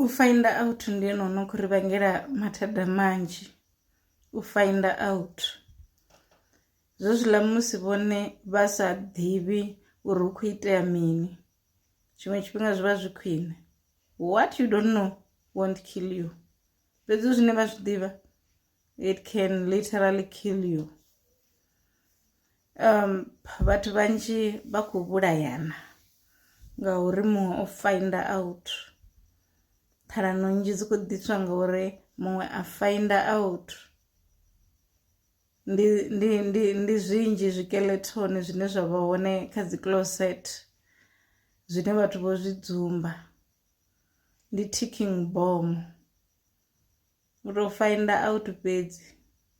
U find out ndi ene ono kho ri vhangela mathada manzhi u find out zwe zwiḽa musi vhone vha sa ḓivhi uri hu kho itea mini tshiṅwe tshifhinga zwi vha zwi khwine what you don't know won't kill you fhedzi zwine vha zwi ḓivha it can literally kill you um vhathu vhanzhi vha khou vhulayana ngauri muṅwe o finder out ṱhalano nnzhi dzi khou ḓiswa ngauri muṅwe a finder out ndi ndi ndi ndi zwinzhi zwikeletoni zwine zwa vha hone kha dzi closet zwine vhathu vho zwi dzumba ndi ticking bomb U tou find out fhedzi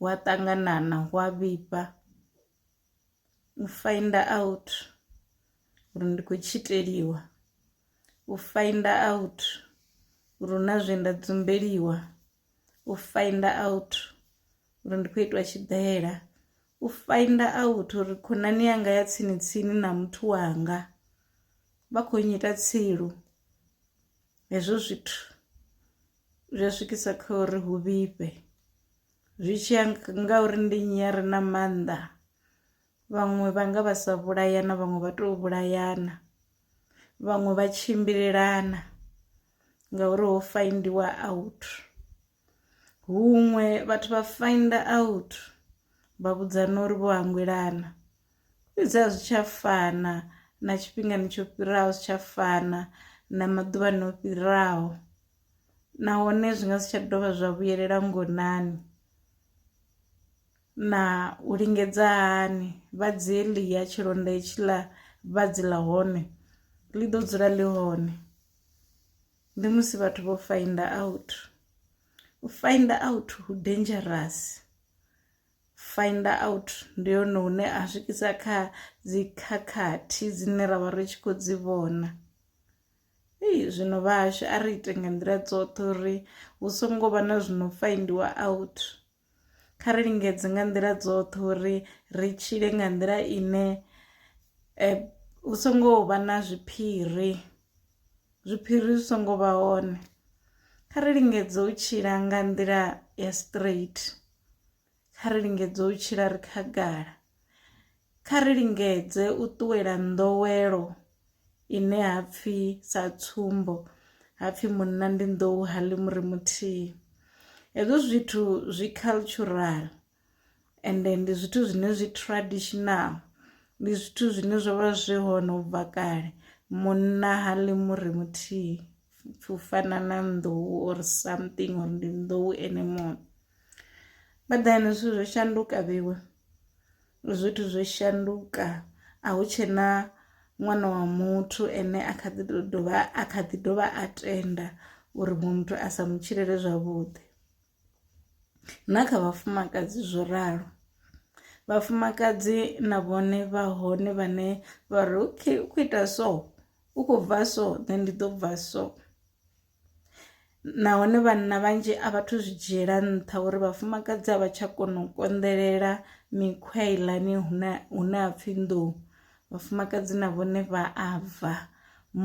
wa ṱanganana wa vhifha u find out uri ndi khou tshiteliwa u find out uri hu na zwe nda dzumbeliwa u find out uri ndi khou itwa tshiḓela u find out uri khonani yanga ya tsini tsini na muthu wanga vha kho nnyita tsilu hezwo zwithu zwi a swikisa kha uri hu vhifhe zwi tshi ya nga uri ndi nnyi a re na maanḓa vhaṅwe vha nga vha sa vhulayana vhaṅwe vha tou vhulayana vhaṅwe vha tshimbilelana ngauri ho faindiwa out Huṅwe vhathu vha finder out vha vhudzana uri vho hangwelana fhedzi a zwi tsha fana na tshifhingani tsho fhiraho zwi tsha fana na maḓuvhani o fhiraho nahone zwi nga si tsha dovha zwa vhuyelela ngonani na u lingedza hani vha dzi ḽi ya tshilonda itshiḽa vha dzi ḽa hone ḽi ḓo dzula ḽi hone. ndi musi vhathu vho find out u find out hu dangerous find out ndi yone hune a swikisa kha dzi khakhathi dzine ra vha ri tshi khou dzi vhona ei zwino vhahashu a ri ite nga nḓila dzoṱhe uri hu songo vha na zwino faindiwa out kha ri lingedze nga nḓila dzoṱhe uri ri tshile nga nḓila ine hu songo vha na zwiphiri, zwiphiri zwi songo vha hone kha ri lingedze u tshila nga nḓila ya straight, kha ri lingedze u tshila ri khagala Kha ri lingedze u ṱuwela nḓowelo ine ha pfi sa tsumbo ha pfi munna ndi nḓou ha ḽi muri muthihi hezwo zwithu zwi cultural ende ndi zwithu zwine zwi traditional ndi zwithu zwine zwo vha zwi hone u bva kale munna ha ḽi muri muthihi u fana na nḓou or something or ndi nḓou ene muṋe badani zwithu zwo shanduka vhewe. zwithu zwo shanduka a hu tshena ṅwana wa muthu ene a kha ḓi dovha a kha ḓi dovha a tenda uri muṅwe muthu a sa mu tshilele zwavhuḓi na kha vhafumakadzi zwo ralo vhafumakadzi na vhone vha hone vhane vha ri okay u khou ita so u khou bva so then ndi ḓo bva so nahone vhanna vhanzhi a vhathu zwi dzhiela nṱha uri vhafumakadzi a vha tsha kona u konḓelela mikhwa heiḽani hune hune ha pfhi nḓou vhafumakadzi na vhone vha a bva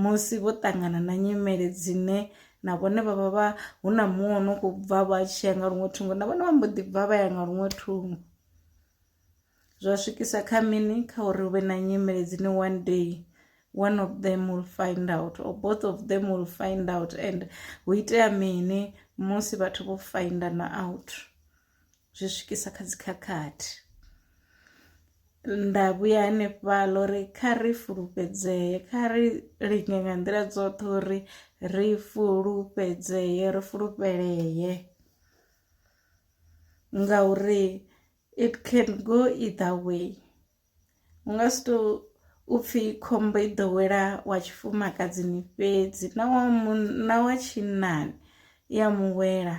musi vho ṱangana na nyimele dzine na vhone vha vha vha hu na muṅwe no kho bva vha tshiya nga luṅwe thungo na vhone vha mbo ḓi bva vha ya nga luṅwe thungo. zwa swikisa kha mini kha uri hu vhe na nyimele dzine one day one of them will find out or both of them will find out and hu itea mini musi vhathu vho findana out zwi swikisa kha dzikhakhathi nda vhuya hanefhaḽa uri kha ri fulufhedzee kha ri linge nga nḓila dzoṱhe uri ri fulufhedzee ri fulufhelee ngauri It can go either way u nga si to u pfhi khombo i ḓo wela wa tshifumakadzini fhedzi na wa munna wa tshinnani i ya mu wela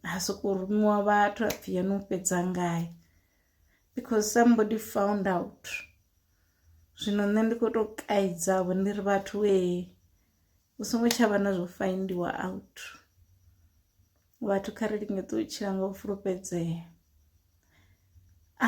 ha soko rumiwa vhathu a pfhi yo no fhedza ngayo because somebody found out zwino nṋe ndi kho to kaidza vho ndi ri vhathu ee u songo tsha vha na zwo faindiwa out vhathu kha ri lingedze u tshila nga u fulufhedzea ah.